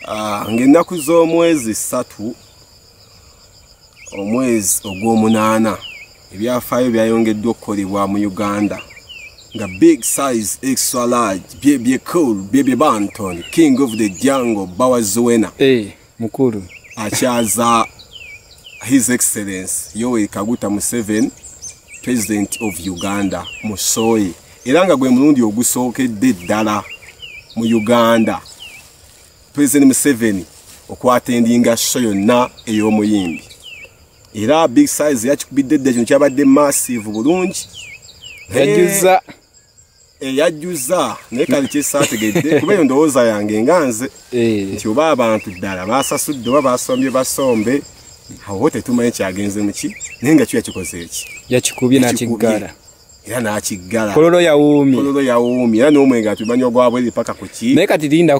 ah, ng'ennaku z'omwezi ssatu omwezi ogw'omunaana ebyafaayo byayongeddwa okukolebwa mu uganda nga big size extra large byebye cool byebye banton king of the jungle bawazuwena hey. Eh. mukulu akyaza his excellence yoweri kaguta museven president of uganda musoye era nga gwe mulundi ogusookedde ddala mu uganda president museveni okwatendinga sho yonna ey'omuyimbi era big size yakikubidde dda kino kyabadde massive bulungi yajuza eyajjuza naye kati kyesaategedde kuba eyo ndowooza yange nga nze eh. nti oba abantu ddala basasudde oba basombye basombe awo tetumanyi kyagenze muki naye nga kyo yakikoze eki yakikubye nakiggala era nakiggala kololo yawuumi kololo yawuumi era n'omwenge atumanyi ogwabwe lipaka ku ki naye kati linda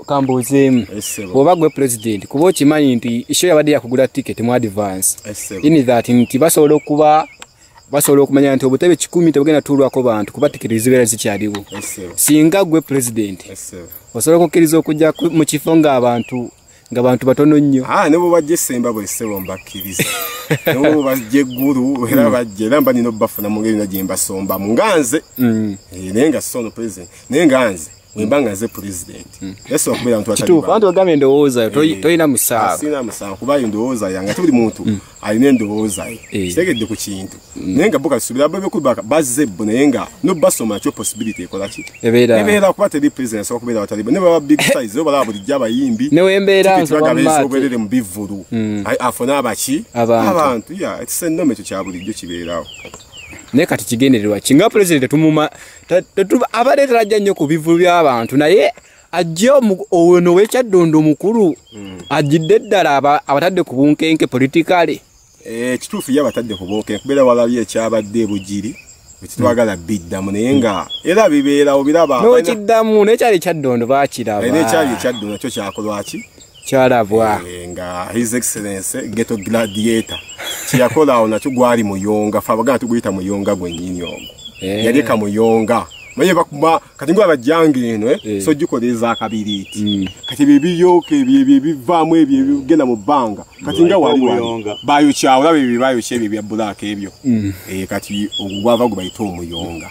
kambuuzeemu oba gwe pulezidenti kuba okimanyi nti isho yabadde yakugula tiketi mu advance ini that nti basobola okuba basobola okumanya nti obutebe kikumi tebugenda tuulwako bantu kuba tikiti zibeera zikyaliwo singa gwe pulezidenti osobola okukkiriza okujja mu kifo ng'abantu nga bantu batono nnyo ah, ne bwebajja esemba bwesebo mbakkiriza nabo bajja eggulu era mm. bajja era mba nina obubafuna mu ngeri na gye mbasombamu nga nze mm. eh, naye nga sono pulezidenti naye nga nze wemba nga nze president hmm. yesu akubira mtu atali kitufu antu agame ndowoza to eh. to ina musawa ah, sina musawa kuba ndowoza yanga tuli muntu hmm. ali ne ndowoza eh. eh. sitege de ku kintu hmm. nenga buka subira bebe ku baka baze bona yenga no baso ma cho possibility ekola ki ebera ebera kuba tali president so kubira atali ne baba big size oba labo dijaba yimbi ne wembera nzo ba mate so bere mu bivuru ai afona abachi abantu ya it's a nome cho chabuli jo kiberawo naye kati kigendererwa kinga pulezidenti tumuma abadde talajja nnyo ku bivulu by'abantu naye ajja ono wekyaddondo omukulu hmm. ajjidde ddala abatadde ku bunkenke politikale eh, ekituufu ye abatadde ku bunkenke kubeera walabye ekyabadde ebugiri ekitwagala hmm. biddamu naye nga era bibeerawo biraba nokiddamu naye kyali ekyaddondo bakiraba eh, naye kyali ekyaddondo kyo kyakolwaki kyalabwa eh, nga his excellence geto gladiator kyeyakola awo nakyo gwali muyonga fe abagana tuguyita muyonga gwenyini ogwo eh. yaleka muyonga naye bakuba kati ngo abajjanga eno eh, eh. so gikola ezakabiriiti mm. kati byebiyoka ebyebivaamu ebyo ebigenda mu bbanga kati nga walibayokya olaba ebyo bayokya ebyo bya bulaaka ebyo mm. eh, kati ogwava gwe bayita omuyonga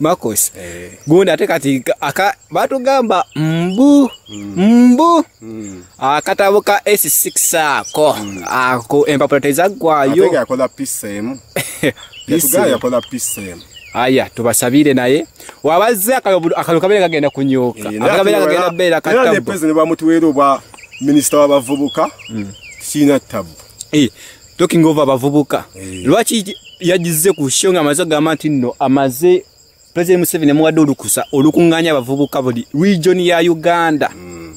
Marcos Eh. gundi ate kati aka batugamba mbu mbu Mm. akatabo ka S6 ako ako empapula tezaggwayo Atega yakola pisa emu. Pisa Yatugaa emu. yakola pisa emu. aya tubasabire naye wabazze akayobu- akalulu kabeera kagenda kunyuka Eh, naye akabeera ati kagenda wala- beera era ne katabbu president bamutuweera obwa minisita w'abavubuka kirina tabbu Eh, talking over abavubuka eh. lwaki yagizze ku show nga amaze agamba nti nno amaze president museveni amuwadde olukusa olukunganya abavubuka buli region ya uganda hmm.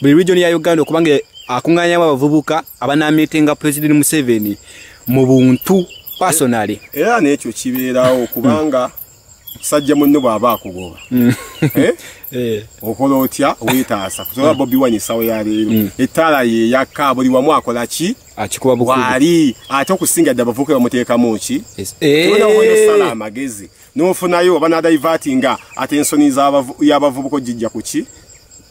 buli region ya uganda okubanga akunganyamu abavubuka abanamitenga president museveni mu buntu personally eh, era nekyo kibeerawo kubanga sajja munno bw'aba akugoba hmm. eh? Eh. okola otya wetaasa kusobola hmm. bobi wanyisaawo ya leero ettaala yeyakka buli wamu akola ki akikuba bukubi wali ate okusinga dda bavuka bamuteekamu ki tewenawoyosala eh. amagezi nofunayo oba nadivati nga ate ensoni yabavubuka ojijja kuki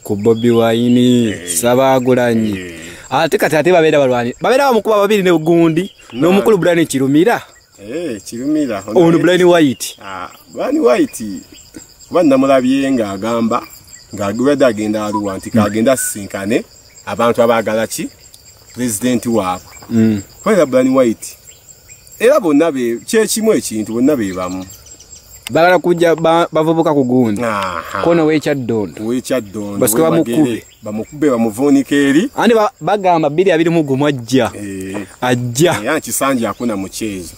ku bobi wayini eh. sabagulanyi eh. ate kati ate babeera balwani babeera bamukuba babiri ne gundi n'omukulu budani kirumira Eh, kirumira ono blind white ah, blind white kuba namulabye ng'agamba ng'agibadde agenda aluwa nti kagenda asisinkane abantu abaagala ki pulezidenti waabwe mm. kubera blind white era bonna kyekimu ekintu bonna be bamu bagala kujja bavubuka ku gundi kono wekyaddondo wekyaddondo basike bamukube bamukube bamuvuunika eri ani bagamba bbiri abiri mu gumu ajja eh. ajja era kisanja akuna mukyezo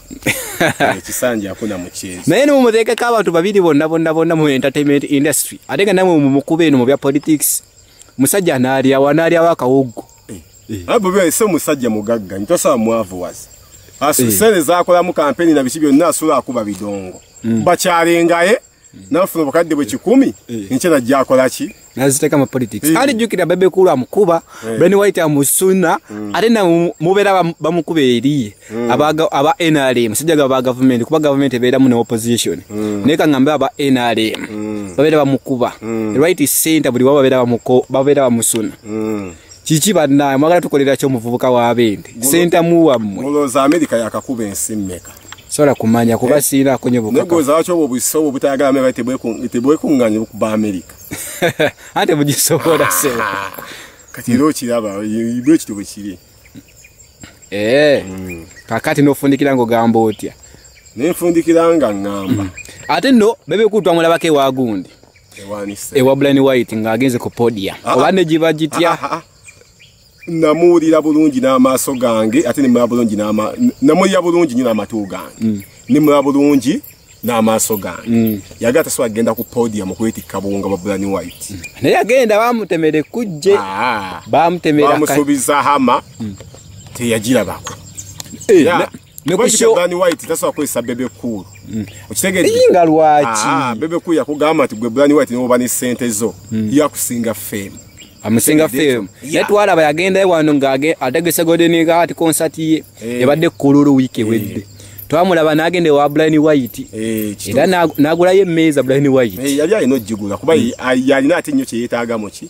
eh, kisanja akuna mukyezo naye nimumuteekeko abantu babiri bonna bonna bonna mu entertainment industry ate nga namwe mumukube eno mu bya politics musajja anaalyawo anaalyawo akawoggo eh. abo bese omusajja mugagga nitosaba mwavu wazi asere zakolamu kampeni na biki byonna asula akuba bidongo mm. bakyalengaye nafuna obukadde bwe kikumi eh. nkye najja akola ki naziteka mu politics eh. ali jukira bebe kulu amukuba eh. ben white amusuna mm. ate na mubera bamukuba eriye mm. abaga aba NRM sijaga ba government kuba government ebera mu opposition mm. neka ngamba aba NRM mm. babera bamukuba mm. right center buli baba bera bamuko babera bamusuna mm. kiki bannaye mwagala tukolera kyo muvubuka wa bende senta muwammwe mulowooza amerika yakakuba ensi mmeka sobola kumanya kuba eh? siinaako nyo bukanegozaaki obwo busa obwo butayagala me bali tebwekunganye okuba amerika ante bugisobola se ah, kati era okiraba bwe kiti bwe kiri ee eh, mm. kakati nofundikira ngaogamba otya naye nfundikira nga ŋŋamba ate nno bebekutwa mulabako ewagundi ewa bulani white ng'agenze ku podia ah, ah. oba ne giba gitya namuwulira bulungi n'amaaso gange ate nemulaba bulungi namuwulira bulungi nyo n'amatu gange mm. nemulaba bulungi n'amaaso gange mm. yagala tasobola kugenda ku podia mu kwetikka buwunga bwa bulani white mm. naye yagenda bamutemera ekkujje ah. bamutemera bamusuubiza hama teyagirabako eh, Mekushogani white that's why kwesa bebe cool. Mm. Okitege inga lwachi. Ah, bebe cool yakugamba ati gwe brand white noba ni sente zo. Mm. Yakusinga fame. Amusinga fame. Yeah. Yet wala bayagenda wano ngage ategese godeni ga ati concert ye. Hey. Ebade kuluru wiki hey. wedde. Twamulaba nagende wa Brian White. Eh, hey, era nagula ye meza Brian White. Eh, hey, yali ayino jigula kuba mm. yali nati nyo kye yetaga mochi.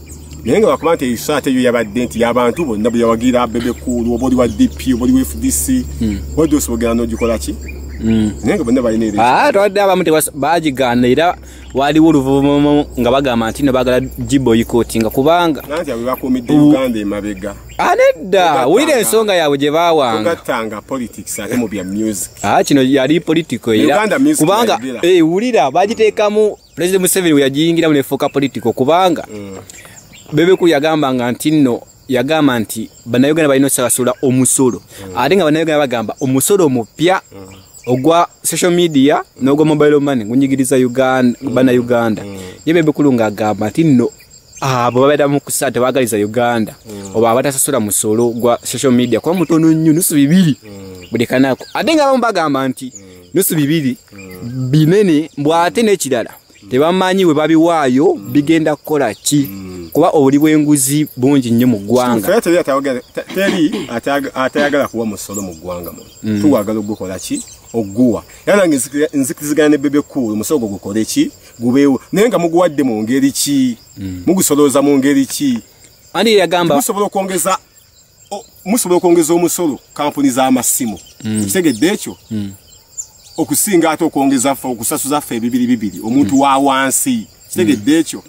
naye nga bakuba nti ebiso ate yo yabadde nti yabantu bonna bwe yawagira bebe kuulu oba oli wa dp oba oli wa fdc hmm. odosi bogera nogikola ki hmm. naye nga bonna balina ah, twadde abamu bagigaana era waliwo oluvuvumu nga bagamba nti no bagala giboyikotinga kubanga nanti abo bakuumidde uganda emabega ah, nedda wulira ensonga yaabwe gye bawangagatanga politics ate mu bya music ah, kino yali politico era kubanga eh, wulira bagiteekamu pulezidenti museveni we yagiyingiramu nefuuka politiko kubanga mm. bebekulu yagambanga nti nno yagamba nti bannayuganda balina osasula omusolo mm. ate nga bannayuganda bagamba omusolo omupya mm. ogwa social media n'ogwa mobile money gunyigiriza uganda mm. bana uganda mm. ye bebekulu ngaagamba nti nno abo babeera mu kusaa tebagaliza uganda mm. oba abatasasula musolo gwa social media kuba mutono nnyo nusu bibiri mm. buli kanako ate nga abamu bagamba nti mm. nusu bibiri mm. binene mbwate nekirala mm. tebamanyi webabiwaayo mm. bigenda kukola ki mm. kuba obuli bwenguzi bungi nnyo mu ggwanga teri atayagala kuwa musolo mu ggwanga mu mm. tuwagala ogukola ki oguwa era nange nzikizigana ne bebe kuulu omusolo gwo gukole ki gubeewo naye nga muguwadde mu ngeri ki mm. mugusolooza mu ngeri ki ani yagamba musobola okwongeza musobola okwongeza omusolo kampuni z'amasimu mm. ekitegedde ekyo mm. okusinga ate okwongeza ffe okusasuza ffe ebibiri bibiri omuntu mm. wa wansi kitegedde ekyo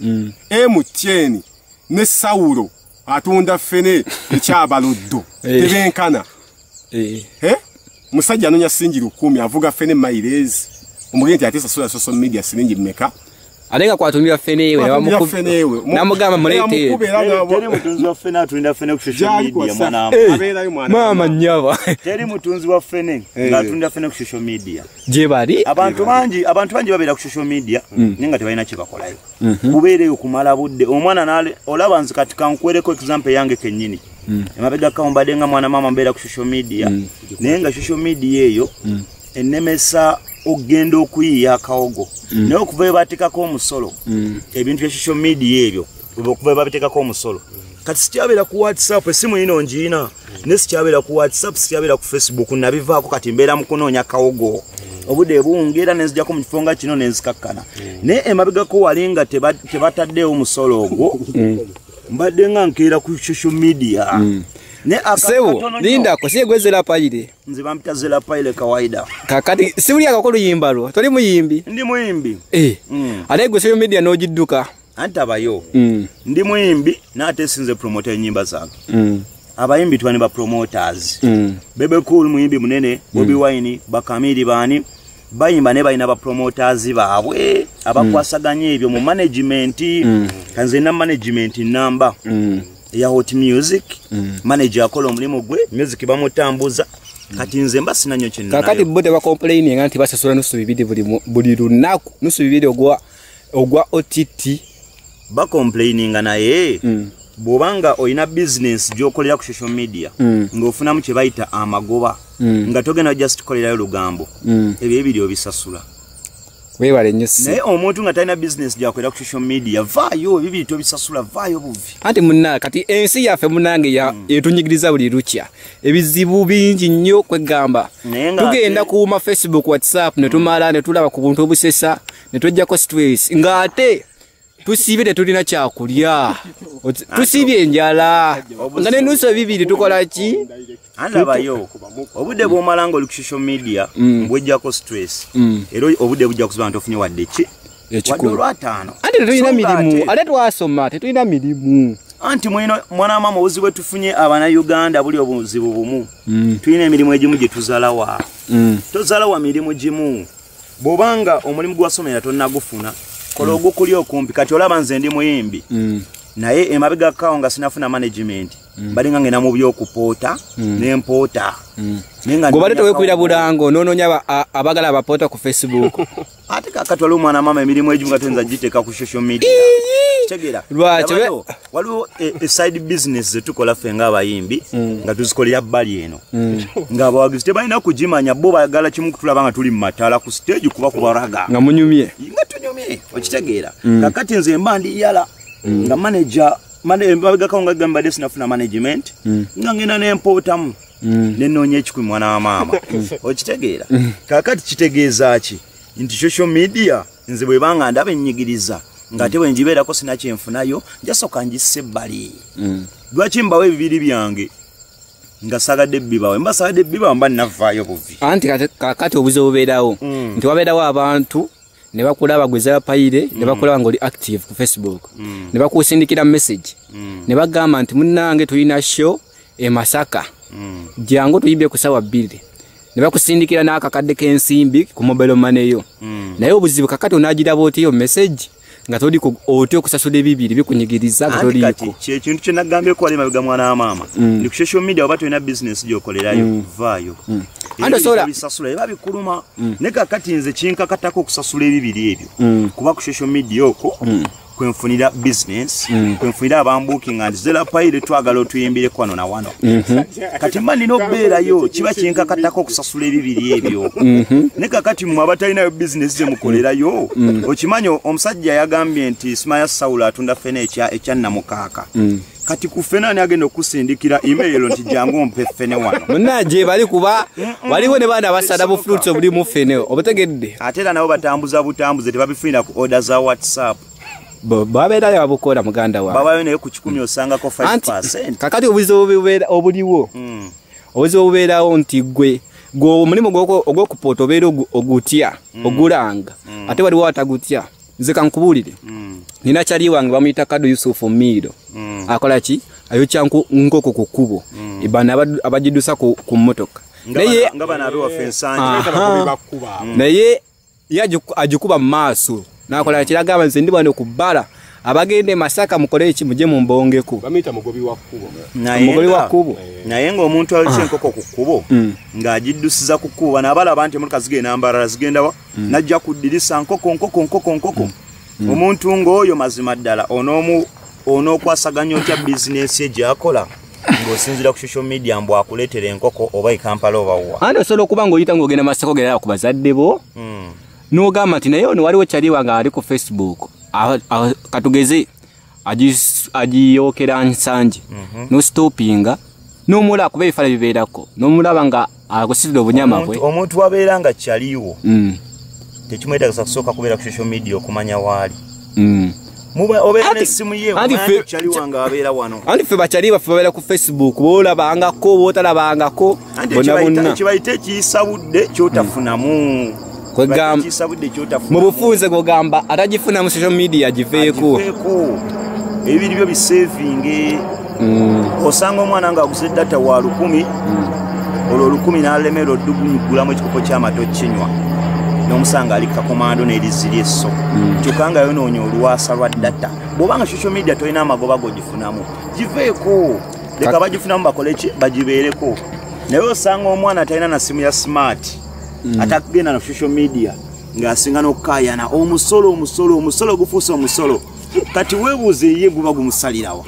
emutyeni ne sawulo atunda ffene ekyabaloddo eh. tebenkana eh. Eh? musajja anonya sinji lukumi avuga fene mailezi omugeni ti atesa sula social media silingi meka alenga kwa tumia fene yewe na muku fene yewe na mugama mulete mukube la na teri mutunzi wa fene atuinda fene ku social media mwana eh, abela yu mwana mama nyaba teri mutunzi wa fene eh. nga atuinda fene ku social media je bari abantu banji abantu banji babela ku social media mm. ninga tebaina chiba kola yo mm -hmm. kubere yo kumala budde omwana nale olaba nzikatika nkwere ko example yange kenyini mm. emabega kawo mbadde nga mwana maama mbeera ku social media mm. naye nga social media eyo mm. enemesa okugenda okuyiiya akawogo mm. naye okuva webatekako omusolo mm. ebintu bya social media ebyo okuva webabitekako omusolo mm. kati sikyabeera ku whatsapp esimu yino ngiina mm. naye sikyabeera ku whatsapp sikyabeera ku facebook nabivaako kati mbeera mu kunoonya kawogo mm. obude bungi era nenzijako mu kifo nga kino nenzikakkana mm. naye emabegako wali nga tebataddeewo musolo ogwo mm. mbadde nga nkeera ku social media mm. sebo lindako siye gwe zela paile nze bampita zela paile kawaida kakati siuli akakolo yimba lwo toli muyimbi ndi muyimbi eh mm. ate gwe seyo media no jiduka anta bayo mm. ndi muyimbi na ate sinze promoter nyimba zange mm. abayimbi twani ba promoters mm. bebe cool muyimbi munene bobi mm. wine bakamiri bani bayimba naye balina bapromoters baabwe abakwasaganya mm. ebyo mu management mm. kanze na management namba mm. eya hot music mm. manager akola omulimu gwe music bamutambuza mm. kati nze mba sinanyo kinakati bo tebakomplaininga nti basasula nusu bibiri buli lunaku nusu bibiri ogwa ogwa ott bacomplaininga naye mm. bwoba nga olina bizinensi gyokolera ku social media mm. ngaofunamu kyebayita amagoba mm. nga togenda just kolerayo lugambo mm. ebyo ebiri obisasula webale nyo si naye omuntu nga talina bizinensi gyakolera ku social media vaayo ebibiri tobisasula vaayo buvi anti muna kati ensi yaffe munange ya mm. etunyigiriza buli lukya ebizibu bingi nnyo kwegamba tugenda kuuma facebook whatsapp netumala mm. netulaba ku buntu obusesa ne twejjako stress ng'ate tusiibye tetulina kyakulya tusiibye enjala nga nenusu ebibiri tukola ki andabayo obudde bwomala nga oli ku social media mm. bwejjako stress mm. era obudde bujja kuziba nti ofunye wadde ki ekikuruataano ate tetulina mirimu ate twasoma tetulina mirimu anti mwino mwana mama obuzibu bwetufunye abana uganda buli obuzibu bumu mm. tulina emirimu egimu gyetuzalawa tozalawa mirimu gimu bwoba nga omulimu gwewasomera tonagufuna kola mm. ogukuli okumpi kati olaba nze ndi muyimbi mm. naye emabega kawo nga sinafuna management mm. bali nga ngenda mu byokupoota nempoota gobale towekubira bulango nononya abagala abapoota ku facebook ate kakatwala omwana mama emirimu egimu nga toyinza giteeka ku social media tegera lwaki waliwo eside eh, business zetukola ffe ngaabayimbi mm. nga tuzikolera bbali eno mm. ngaabawagizi tebalina kugimanya bo bagala kimu kutulaba nga tuli mumatala ku stage kuba kubaraga nga munyumye nga tunyumye okitegeera mm. kakati nze mba ndi yala nga manager mabegako nga gambadde sinafuna management nga ngenda nempootamu nenoonya ekikumi mwana wa maama okitegeera kakati kitegeeza ki nti social media nze bweba nga ndaba ennyigiriza ng'ate bwe ngibeerako sina kyenfunayo njasooka ngisse ebbali mm. lwaki mbawo ebibiri byange nga sagadde bibawe mba sagadde bibawe mba navaayo buvi anti kakati obuzi obubeerawo mm. nti wabeerawo abantu ne bakulaba gweza bapayire ne mm. bakulaba ng'oli active ku facebook ne bakusindikira message ne bagamba nti munnange tulina show e masaka jangu tuyibye ku sawa bbiri ne bakusindikira n'akakadde k'ensimbi ku mobile money yo mm. naye obuzibu kakati onaagiraba otiyo message nga toli otya okusasula ebibiri bikunyigiriza nga toliiko kyekintu kye nagambye kuwala emabega mwana wa maama mm. ndi ku social media oba tolina bizinesi gyokolerayo mm. vaayo mm. andosoolasasula eba bikuluma ne kakati nze kinkakatako okusasula ebibiri ebyo kuba ku social media okwo kwenfunira business mm. kwenfunira abambuking and zela paire twagala otuyimbire kwano na wano mm -hmm. kati mba nina okubeerayo kiba kyenkakattako okusasula ebibiri ebyo mm -hmm. ne kakati mwe abatalinayo bizinesi ze mukolerayo mm. okimanyi omusajja yagambye nti simaya sawulo atunda fena ekya, ekya namukaaka mm. kati ku ffene ani agenda okusindikira email nti jangu ompe ffene wano munaje bali kuba waliwo ne baana basada bu fruits obuli mu ffene obutegedde ate era nabo batambuza butambuze tebabifunira ku order za whatsapp babeera yabukola muganda wa babayo naye ku kikumi osangako 5 kakati obuzibu obuliwo hmm. obuzibu obubeerawo nti gwe gwe omulimu ogwokupoota obeera ogutya hmm. ogulanga hmm. ate waliwo atagutya nze kankubuulire mm. nina kyali wange bamuyita kado yusufu miiro mm. akola ki ayokya nkoko ku kkubo mm. bano abagidusa ku mmotoka naye naye ye agikuba mu maaso nakola kiragamba nze ndi bano ku bbala abagenda emasaka mukole eki muje mumbongeko mugobi wa kkubo naye ngaomuntu alikyenkoko ku kkubo ng'agiddusiza ku kkubo bano abalaba nti emotaka zigenda mbarala zigendawa mm. najja ku ddirisa nkoko nkoko nkoko nkoko mm. mm. omuntu ng'oyo mazima ddala onoomu onookwasaganya otya bizinensi ye gyakola ng'osinzira ku social media mbu akuleetera enkoko oba ekampala obawa andi osobola okuba ng'oyita ng'ogenda masaka ogendala ku bazadde bo mm. n'ogamba nti naye ono waliwo kyaliwa nga ali ku facebook katugeze agis- agiyokera nsangi nositopinga nomulaba kuba ebifala bibeerako nomulaba nga akusitula obunyama bwe Omuntu- omuntu wabeera nga kyaliwo Mm, tekimwetagisa kusooka kubeera ku social media okumanya waali mm. Muba- obeera Anti- n'essimu ye anti omanya ffe- nti kyaliwa nga abeera wano anti ffe bakyali baffe babeera ku facebook boolabangako bootalabangako bonabonakibayita ekiyisa budde kyotafunamu hmm. mu bufunze gwogamba atagifuna mu social media giveeko ebibiri byo bisevinge hmm. osanga omwana nga aguze data wa lukumi hmm. olwo olukumi nalemera odugunyugulamu ekikopo kyamata okinywa nomusanga ali kakomando neriziri esso hmm. kyokka nga yonoonya olwasa lwa data bwobanga social media tolina amagoba gogifunamu giveeko leka bagifunamu bakole ki bagibeereko naye osanga omwana atalina na simu ya smart mm. atakugenda na social media ng'asinga n'okukayana omusolo omusolo omusolo gufuuse omusolo kati webuuze ye guba gumusalirawa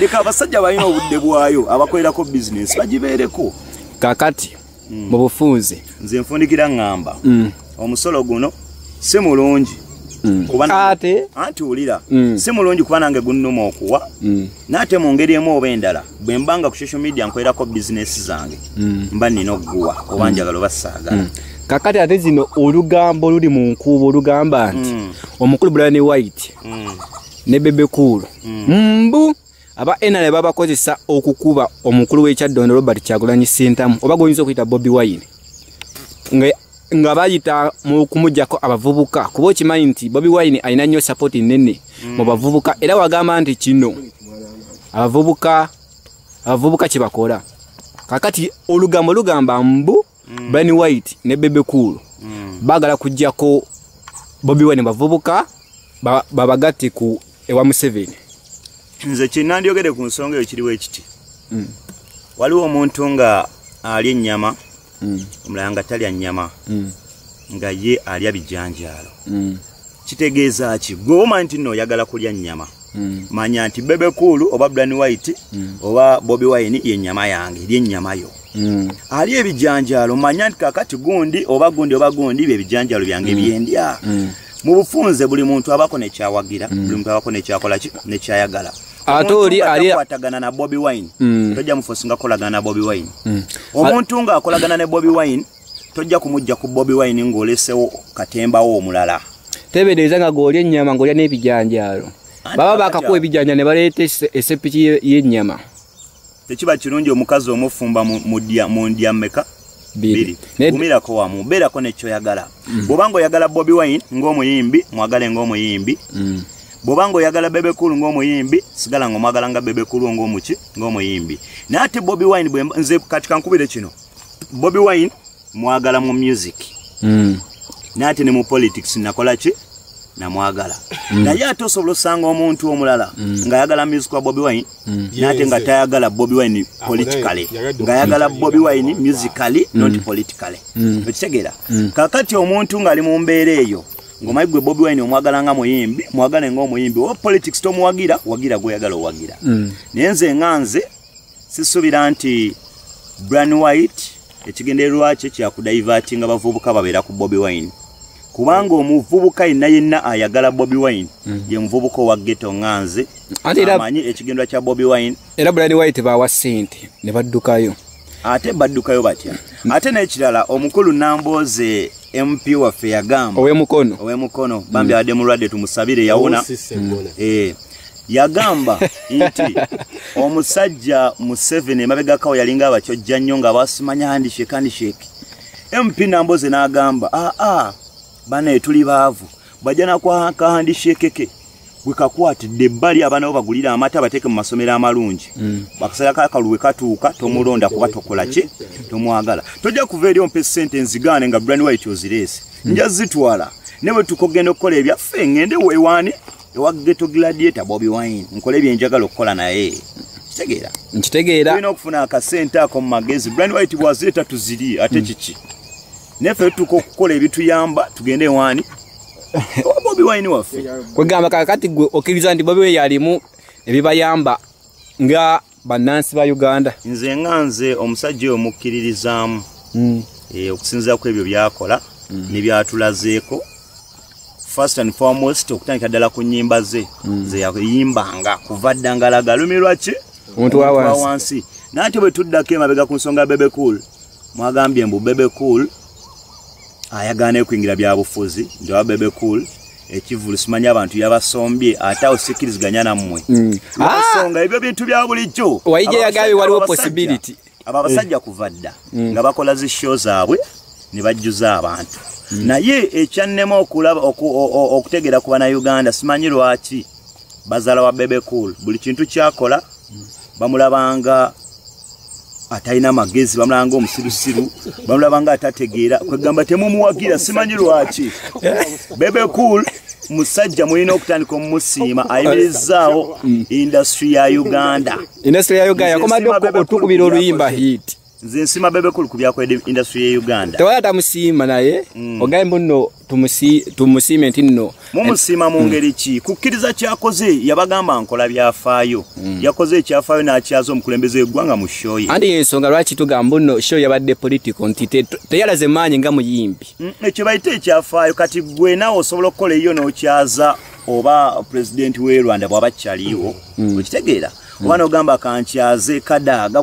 leka abasajja balina obudde bwayo abakolerako bizinesi bagibeereko kakati mm. mu bufunze nze nfundikira ngamba mm. omusolo guno si mulungi mm. ate anti wulira mm. si mulungi kuba nange gunnuma okuwa mm. naate mu ngeri emu oba endala bwe mba nga ku social media nkwerako bizinesi zange mm. mba nina okuguwa oba mm. njagala oba saagala mm. kakati ate zino olugambo luli mu nkuubo olugamba nti mm. omukulu bulani white mm. ne bebekuulu mm. mbu mm. aba nra babakozesa okukuba omukulu w'ekyaddondo robert kyagulanyi sintamu oba gwoyinza okuyita bobi wine nga bayita mu kumujjako abavubuka kuba okimanyi nti bobi wine alina nnyo sapoti nnene mm. mu bavubuka era wagamba nti kino abavubuka abavubuka kyebakola kakati olugambo lugamba mbu mm. Brian White ne Bebe Cool mm. bagala kujjako Bobby Wine bavubuka babagatte ba ku ewa Museveni nze kinandyogede ku nsonga eyo kiriwo ekiti mm. waliwo omuntu nga alya ennyama mm. omulala nga talya nnyama mm. nga ye alya bijanjaalo mm. kitegeeza ki gwe omanyi nti no oyagala kulya nnyama mm. manya nti bebe kuulu oba bran white mm. oba bobi wine ye nnyama yange eri ennyama yo mm. ali ebijanjaalo manya nti kakati gundi oba gundi oba gundi bye bijanjaalo byange mm. byendya mm. mu bufunze buli muntu abako nekyawagira mm. buli muntu abako nekyakola nekyayagala ate oli alikwatagana na bobi wine mm. tojja mufosinga kolagana na bobi wine mm. omuntu nga akolagana ne bobi wine tojja kumujja ku bobi wine ng'olesewo katembawo omulala tebedeeza nga goolya ennyama ng'olya n'ebijanjaalo baba bakakuwa ebijanja ne baleeta esepiki y'ennyama tekiba kirungi omukazi omufumba mu ndya mmeka biri gumirako wamu beerako nekyoyagala mm. bwoba nga oyagala bobi wine ng'omuyimbi mwagale ng'omuyimbi mm. bwoba nga oyagala bebekulu ng'omuyimbi sigala nga omwagala nga bebekulu ng'omuki ng'omuyimbi naye ate bobi wine nze kati kankubire kino bobi wine mwagala mu music mm. nati ne mu politics nakola ki namwagala mm. naye ate osobola osanga omuntu omulala mm. ngaayagala music wa bobi wine mm. nate nga tayagala bobi wine ah, politically ngaayagala bobi wine musically mm. not politically mm. okitegeera mm. kakati omuntu ngaali mu mbeera eyo ngomayi gwe bobi wine omwagala nga muyimbi mwagale nga omuyimbi oba politics tomuwagira wagira gweyagala owagira mm. naye nze nga nze sisubira nti bran white ekigendererwa kye kyakudaivaati nga bavubuka babeera ku bobi wine kubanga omuvubuka yenna yenna ayagala bobi wine mm. ye muvubuka owa geto nga nze amanyi ekigenderwa kya bobi wine era bran white bawa sente ne baddukayo ate baddukayo batya ate n'ekirala omukulu nambooze mp waffe yagamba owemukono owemukono bambi mm. adde mulwadde tumusabire yawona mm. eh. yagamba nti omusajja museveni emabegakawo yalinga abakyojja nnyo nga basimanya handishek handishek mp namboze n'agamba aa ah, ah, banaye tuli baavu bajja nakwaka handishekeke wekakwatidde ebbali abaana bo bagulira amata bateeke mu masomero amalungi mm. bakasala kakaluwe katuuka tomulonda kuba tokola ki tomwagala tojja kuva eri ompa esente nzigaane nga brani wait ozireese mm. nja zitwala ne bwe tukogenda okukola ebyaffe ngende wewaani ewa ghetto gladiator bobi wine nkole byenjagala okukola naye kitegeera nkitegeera tulina okufuna akasente ako mu magezi brand white bwazeeta tuziri ate hmm. kiki neffe tutuuka okukola ebituyamba tugende ewaani owa bobi wine waffe kwegamba kakati gwe okkiriza nti bobi we yalimu ebibayamba nga bannansi ba uganda nze nga nze omusajja oyo mukkiririzaamu mm. e, eh, okusinzira ku ebyo byakola mm. nebyatulazeeko first and foremost okutandika ddala ku nyimba ze mm. zeyayimbanga kuva dda ngalaga lumi lwaki omuntu wawansi naye ate bwe tuddako emabega ku nsonga ya bebe cool mwagambye mbu bebe cool ayagala nekuyingira byabufuzi njawa bebe cool ekivulu simanyi abantu yabasombye ate awo sikiriziganya nammwe mm. nsonga ah! ebyo bintu bya bulijjo waija yagambye waliwo possibility abo abasajja kuva dda mm. nga bakola zi show zaabwe ne bajjuza abantu mm. naye ekyannema okulaba okutegeera ku banauganda simanyi lwaki bazala wa bebe cool buli kintu kyakola bamulabanga atalina magezi bamulanga omusirusiru bamulaba nga atategeera kwegamba temumuwagira simanyi lwaki bebe cool musajja mulina okutandika omusiima ayimirizaawo industry ya uganda industry ya uganda yakomadde otukubira oluyimba hit nze nsima bebe cool ku byakoledde industry ya uganda tewala tamusiima naye mm. ogaye mbuno tumusiime nti nno mumusiima mu mm. ngeri ki kukkiriza kyakoze yabagamba nkola byafaayo mm. yakoze ekyafaayo n'akyaza omukulembeze w'eggwanga mu shoye andi yensonga lwaki tugamba nno shoye yabadde politiko nti teyalaze maanyi nga muyimbi mm, ekyo bayite ekyafaayo kati gwe naawe osobola okukola eyo n'okyaza oba pulezidenti w'e rwanda bw'aba kyaliwo okitegeera oba n'ogamba kankyaze kadaaga